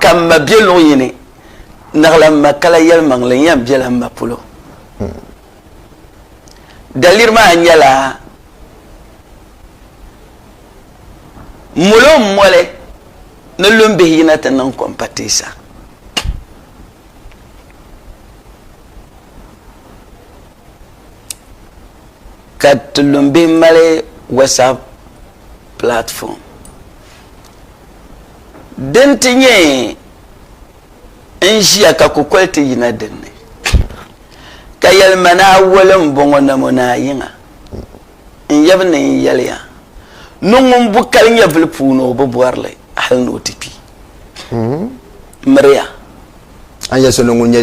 Ka m ma be luɣ yini, naɣila m ma ka la yɛlimaŋli n-yɛn bela m ma polo. Daliri maa nyɛla, Molo m-moli ni lumbihi yina ti niŋ kom pateesa. ka tulumbi mali whatsapp platform din ti nyɛ n ʒiya ka kukoli ti yina dinni ka yɛlima ni awoli n bɔŋɔ namo ni ayiŋa n yɛbi ni n yɛliya ni ŋun bu kali nyɛvili puuni o bi bɔrili hali ni o ti kpi hmm. miriya An yɛli so ni ŋun nyɛ.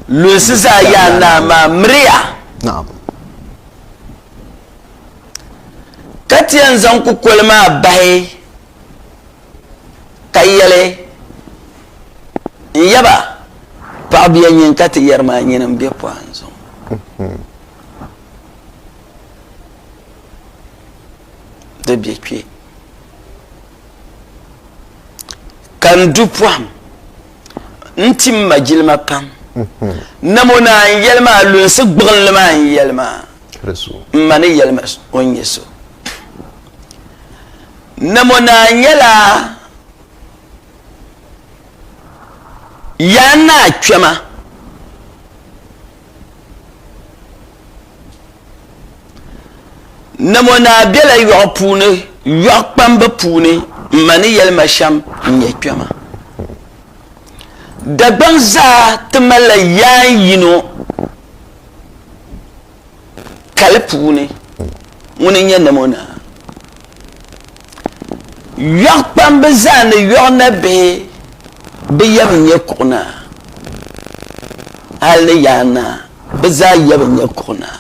Lunsi zaa Yaa Naa maa miriya. Naam. Ka ti yɛn zaŋ kukoli maa bahi ka yɛli, N yaba, paɣibuya nyin ka ti yɛri maa nyini m-be pɔhim zuŋɔ. Di be kpe. ka n du pɔhim nti m ma jilima pam mhm. nam o naa n yɛli maa lunsi gbuɣinli maa n yɛli maa m ma ni yɛli ma o nyɛ so nam o naa nyɛla yaa naa kpɛma Namo Naa bela yɔɣu puuni, yɔɣu kpambu puuni m-ma ni yɛlima shɛm n-nyɛ kpɛma. Dagbaŋ zaa ti malila yaan yino kali puuni. ŋuni n-nyɛ nam o naa. Yɔɣu kpamba zaa ni yɔɣu nabihi bɛ yab n-nyɛ kuɣu naa. Hal ni yaa naa, bɛ zaa yab n-nyɛ kuɣu naa.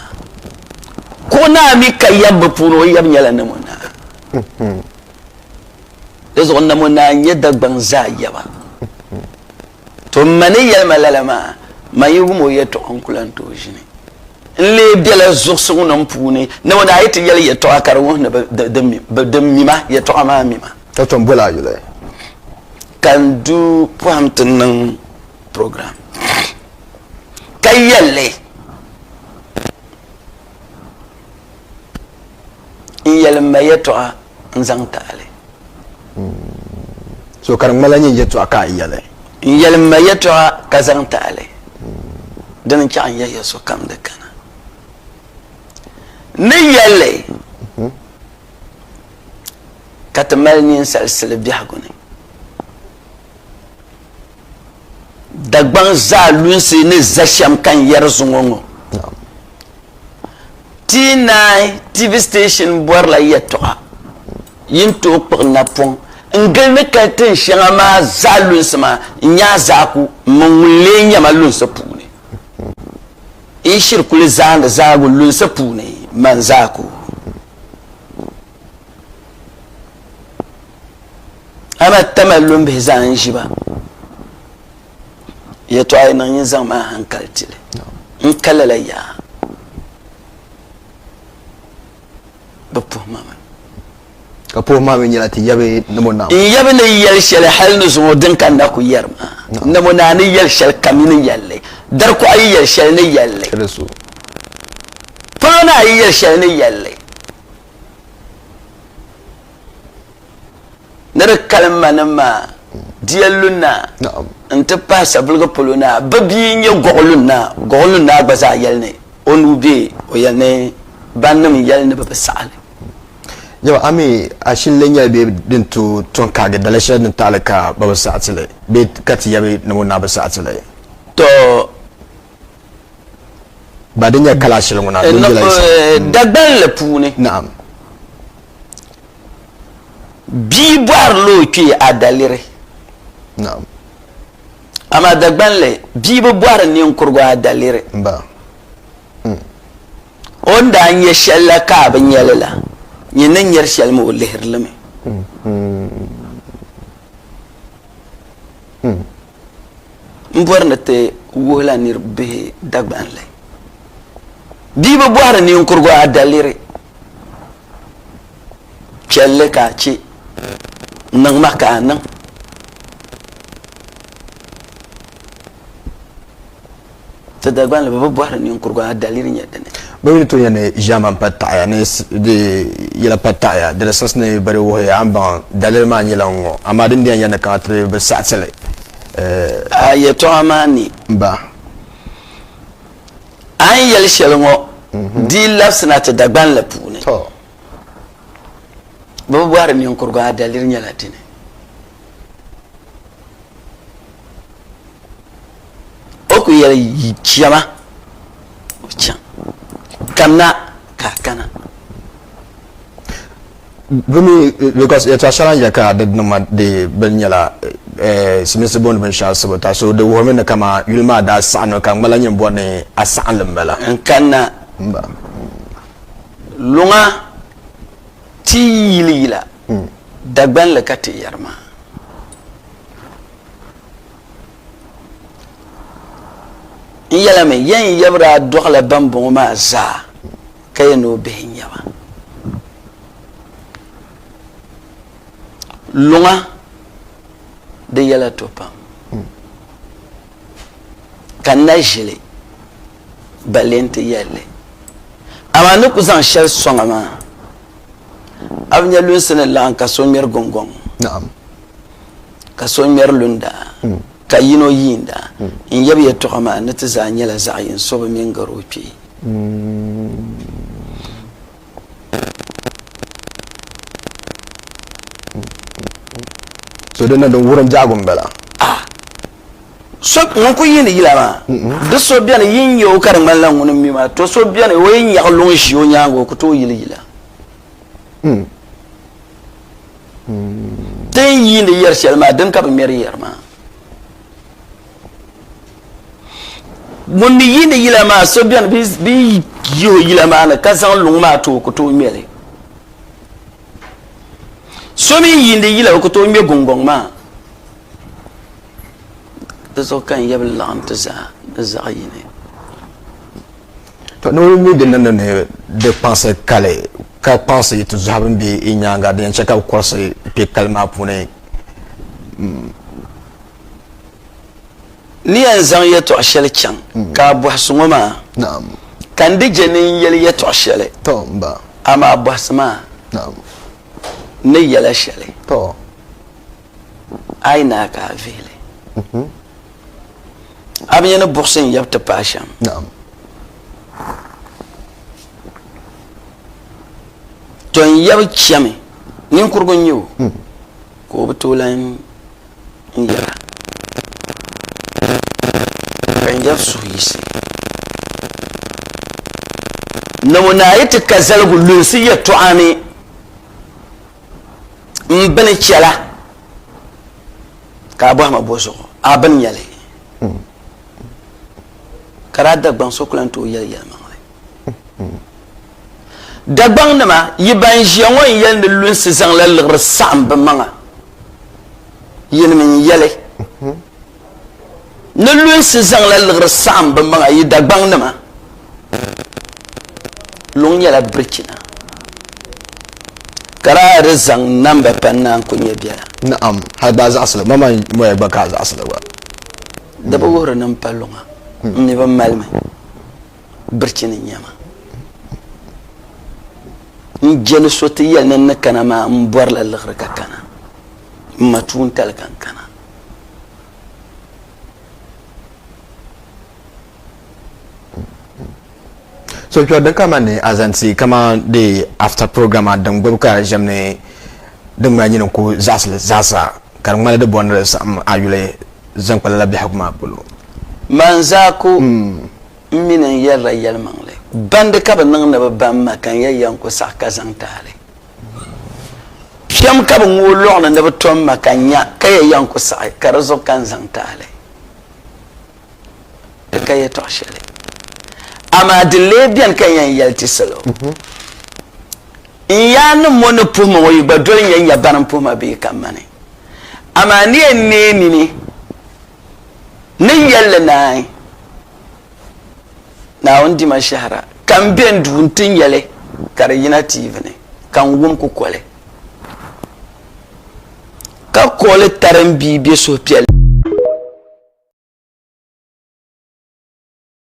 Kuɣu naa mi ka yab bɛ puuni o yab nyɛla nam o naa. Di zuɣu nam o naa n-nyɛ Dagbaŋ zaa yaba. To m ma ni yɛli ma lala maa, man yi wum o yɛtɔɣa n-ku lan tooi ʒini. N lee bela zuɣusiŋnim puuni ni o daa yi ti yɛli yɛtɔɣa ka di wuhi ni bɛ di mi ma, yɛtɔɣa maa mi ma. Ka tom bol a yuli ka n du pɔhim ti niŋ program ka yɛl li n yɛli m ma yɛtɔɣa. n zaŋ ti a li. So ka di ŋmanila nyini yɛtɔɣa ka a yɛli. N yɛli m ma yɛtɔɣa ka zaŋ ti a li. Dini n chaɣ n yɛliya sokam di kana ni yɛl li ka ti mali ninsal sili biɛhigu ni. Dagbaŋ zaa lunsi ni za shɛm ka n yɛri zuŋɔ ŋɔ. T9 TV station bɔrila yɛltɔɣa yi ni tooi kpuɣi napɔŋ n-gili ni kali tin shɛŋa maa zaa lunsi maa n-nyaai zaaku m-mini ŋun lee nya ma lunsi puuni. Yi shiri kuli zaandi zaagu lunsi puuni mani zaaku. Amaa Tamale lumbihi zaa n-ʒi ba. yɛtɔɣa yi niŋ yi zaŋ maa hankali tili n ka lala yaa bi puhi ma mi ka puhi maa mi nyɛla ti yabi namo naa n yabi ni yɛli shɛli hali ni zuŋɔ din ka na ku yɛri ma namo naa ni yɛli shɛli kam yi ni yɛlli dari kuɣa yi yɛli shɛli ni yɛlli polo naa yi yɛli shɛli ni yɛlli ni di kali ma ni ma diya lunnaa n-ti pahi saviligi polo naa bɛ bia n-nyɛ Goɣi lunnaa. Goɣi lunnaa gba zaa yɛli ni o nuu be o yɛli ni bannim n-yɛli ni bɛ bi saɣi li. Jɛma a mi a shili lee nyɛla bɛ din tooi tɔŋ kaagi daliya shɛli din taɣili ka bɛ bi saɣi ti li bee ka ti yɛbi ni ŋun naa bi saɣi ti li? Tɔ! Ba di nyɛla kalaashili ŋuna din bela yi saha. Dagbanli puuni. Naɣim. Bia bɔhirila o kpee adaliri. Naam. Amaa Dagban li, bia bi bɔhiri niŋkurugu adaliri. Mba. Mm. O ni daa nya shɛli la ka a bi nya li la, nyin ni nyari shɛli mi o lihiri li mi. Mm-hmm. Mm. M bɔri ni ti wuhila nir bihi Dagban li. Bia bi bɔhiri niŋkurugu adaliri. piɛlli ka a chɛ n niŋ ma ka a niŋ ti Dagbanli bi bɔhiri ninkurigu a daliri nyɛ dini. Bɛ mi ni tooi nya ni ʒiɛman pa taɣiya ni di yɛla pa taɣiya di ni siɣisi ni bɛ di wuhi a ni baŋ daliri maa nyɛla n ŋɔ amaa din bɛn yɛli ni kana ti bi saɣiti li. A yɛltɔɣa maa ni. Ba. A ni yɛli shɛli ŋɔ di yi labisina ti Dagban la puuni, bɛ bi bɔhiri niŋkurugu a daliri nyɛla dini. O ku yɛli, Yi chɛ ma, o chaŋ. Kamina ka a kana. Bɛ mi, because yɛtɔɣ shɛŋa n yɛli ka di niŋ ma di bini nyɛla Simisi booni binshɛɣu sibu ta so. Di wuhirimi ni kaman yuli maa daa saɣi noli ka ŋ gba-lahi nyin bɔri ni a saɣi li m-bala. N kanna luŋa ti yi yili yila Dagban li ka ti yɛri ma. N yɛlimi, yɛn yabiri a dɔɣila bambɔŋɔ maa zaa. Ka yɛn ni o bihi n-nyɛ ba. Luŋa di yɛla to pam ka na ʒili ba lee nti yɛli li. Amaa ni ku zaŋ shɛli sɔŋ a maa, a bi nya lunsi ni laɣim ka so ŋmɛri guŋgɔŋ? Naɣim. ka so ŋmɛri lunda, hmm. ka yino yiinda hmm. n yab yɛtɔɣa maa ni ti zaa nyɛla zaɣ yini so bi mini garo o kpee. So din na din wurim biɛhigu n bala. Ah. so ŋun ku yiini yila maa di so bɛni yin yɛ o ka di ŋmanila ŋuni mi maa to so bɛni o yi nyaɣi luŋ ʒi o nyaanga o ku tooi yili yila Hmm. Hmm. Ti ni yiindi yɛri shɛli maa din ka bi ŋmɛri yɛri maa. Ŋun ni yiindi yila maa so bɛni bi yi o yila maa ni ka zaŋ luŋ maa ti o ku tooi ŋmɛli. So mi yiindi yila o ku tooi ŋmɛ gungɔŋ maa. Di zuɣu ka n yɛbi laɣim ti zaa ni zaɣ yini. Ka noo mi di niŋdi ni di kpaŋsi kali, ka kpaŋsi ti zɔhi bɛn be i nyaaŋa, din yɛn chɛ ka bɛ kɔrisi kpe kali maa puuni. N ni yɛn zaŋ yɛtɔɣ shɛli chaŋ ka a bɔhi so ŋɔ maa, ka n di je ni n yɛli yɛtɔɣ shɛli, amaa bɔhisi ma n ni yɛla shɛli. Ayi naa ka a vihili. A bi nya ni buɣisi n yab ti paai shɛm? Naam. To n yab chɛmi, ninkurigu n-nyɛ o, hmm. ka o bi tooi lan n yɛra. Ka n yab suhu yiɣisi. Namo naa yi ti ka zaligu lunsi yɛtɔɣa ni. n bini chɛla ka a bɔhi ma bɔ zuɣu a bini nyɛli ka daa dagbaŋ so ku lan tooi yɛli yɛlimaŋli dagbaŋnima yi ban ʒiya ŋɔ n yɛli ni lunsi zaŋla liɣiri saɣim bi maŋa yɛlimi n yɛli ni lunsi zaŋla liɣiri saɣim bɛ maŋa yi Dagbaŋnima luŋ nyɛla birichina ka daa di zaŋ namba pa n-naan ku nyɛ biɛla. Na'am, hal gba a zaɣisili, ma man moya gba ka a zaɣisili gba. Di bi wuhiri ni m pa luŋa, m mi bi mali mi, birichini n-nyɛ ma. N je ni so ti yɛli ni n ni kana maa m bɔrila liɣiri ka kana, m ma tuuntali ka n kana. so kpɛri di kama ni azanti kama de after program a din gbubi ka ʒɛm ni din ŋmana nyini ku zaɣisili zaasa ka di ŋmana di bɔri ni di saɣim a yuli zaŋ kpa lala biɛhigu maa polo Manzako n mi ni n yɛrila yɛlimaŋli bandi ka bi niŋ ni bi ba n ma ka n yɛn yɛn ku saɣi ka zaŋ taali. Piɛm ka bɛ ŋooi luɣ ni ni bɛ tom ma ka nya ka ya yɛn ku saɣi, ka di zuɣu ka n zaŋ ti a li. Di ka yɛtɔɣ shɛli, amaa di lee beni ka n yɛn yɛli ti salo. N yaannim ŋɔ ni puhi ma ŋɔ, yi gba doli n ya nya bana m-puhi ma bee ka mani. Amaa ni yɛn neei nini ni yɛl li naai. Naawuni dima shɛhira ka n be n duu nti nya li ka di yina tiivi ni ka n wum kukoli ka kooli tari m bia be suhupiɛlli ni.